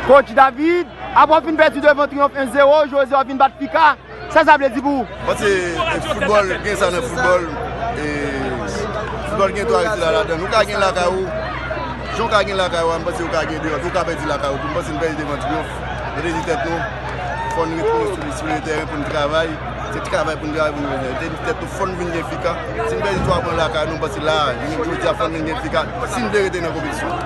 Coach David, apre w fin pèdi devan Triomphe 1 0, jodi a w vin bat Pika, sa sa vle di pou ou? Bon se foutbòl, gen sa nan foutbòl, e foutbòl gen twa retira ladan l. Ou ka gen lakay ou, jan w ka gen lakay ou a, m panse ou ka gen deyò tou, ou ka pèdi lakay ou tou. M panse n pèdi devan Triomphe, nou te di tèt nou, fò n retounen sou le tèren pou n travay, se travay pou n travay pou n retounen. Nou te di tèt nou fò n vin gen Pika, si n pèdi twa pwen lakay nou, m panse la a, jodi a fò n vin gen Pika, si n vle rete nan konpetisyon.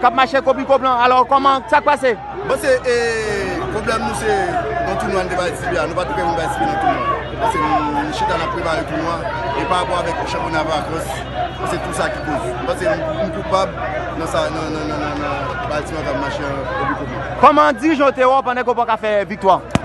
Kap mache kopi koblan alò kòman sak pase. Bon se e pwoblèm nou se nan tounwa nou te bay Tibi a nou pat prè pou bay Tibi nan tounwa paske nou chita nap prepare tounwa e pa rapò avèk chanpyona Vacans bon se tou sa ki koz m panse m koupab nan sa nan nan nan nan nan bay ti maga mache an kopi koblan. Kòman dirijan yo te wè w pandan ke w paka fè viktwa?